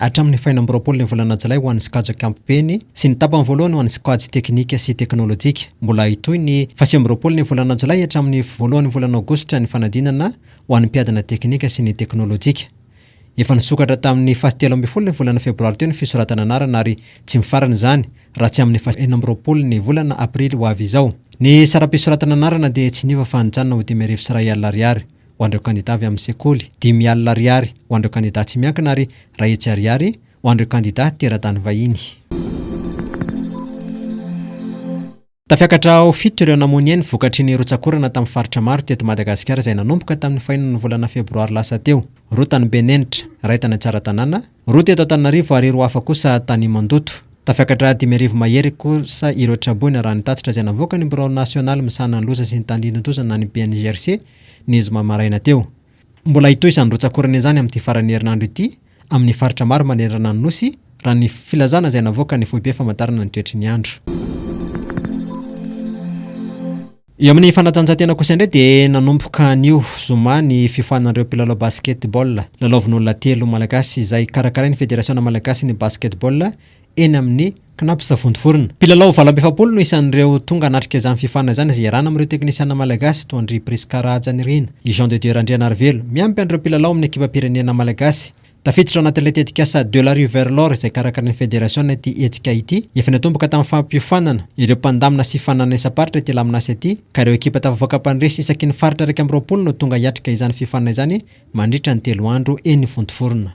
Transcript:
Hatramin'ny fahenina amby roapolo ny volana jolay ho an'ny sokajy ankapobeny sy ny tapany voalohany ho an'ny sokajy teknika sy teknolojika. Mbola hitohy ny fahasivy amby roapolo ny volana jolay hatramin'ny voalohan'ny volana aogositra ny fanadinana ho an'ny mpiadina teknika sy ny teknolojika. Efa nisokatra tamin'ny fahatelo ambin'ny folo ny volana febroary teo ny fisoratana anarana ary tsy mifarana izany raha tsy amin'ny fahenina amby roapolo ny volana aprily ho avy izao. Ny saram-pisoratana anarana dia tsy niova fa nijanona ho dimy arivo sy iray alina ariary. ho an'ireo kandidà avy amin'ny sekoly, dimy alina ariary ho an'ireo kandidà tsy miankina ary iray hetsy ariary ho an'ireo kandidà teratany vahiny. Tafiakatra ho fito ireo namonia ny vokatry ny rotsak'orana tamin'ny faritra maro teto Madagasikara izay nanomboka tamin'ny fahenina ny volana febroary lasa teo, roa tany Benenitra, iray tany Tsaratanàna, Roa teto Antananarivo ary roa hafa kosa tany Mandoto. Tafiakatra dimy arivo mahery kosa ireo traboina raha ny tatitra izay navoakan'ny Birao Nasionaly misahana ny loza sy ny tandindodoza na ny BNGRC ny zoma maraina teo. Mbola hitohy izany rotsak'orana izany amin'ity faran'ny herinandro ity amin'ny faritra maro manerana ny Nosy raha ny filazana izay navoakan'ny Foibe famantarana ny toetry ny andro. Eo amin'ny fanatanjahantena kosa indray dia nanomboka anio zoma ny fifoanan'ireo mpilalao basket-ball lalaovin'olona telo malagasy izay karakarain'ny Federasiona malagasin'ny basket-ball eny amin'ny Cnaps Vontovorona. Mpilalao valo amby efapolo no isan'ireo tonga hanatrika izany fifoanana izany izay iarahana amin'ireo teknisiana malagasy toa an-dry Prisca Rahajanirina, i Jean de Dieu Randrianarivelo, miampy an'ireo mpilalao amin'ny ekipam-pirenena malagasy. Tafiditra ao anatin'ilay tetikasa De la rue vers l'or izay karakarain'ny federasiona ity hetsika ity. Efa niantomboka tamin'ny fampiofanana ireo mpandamina sy fananana isam-paritra ity laminasa ity ka ireo ekipa tafavoaka mpandresy isaky ny faritra iraika amby roapolo no tonga hiatrika izany fiofanana izany mandritra ny telo andro eny Vontovorona.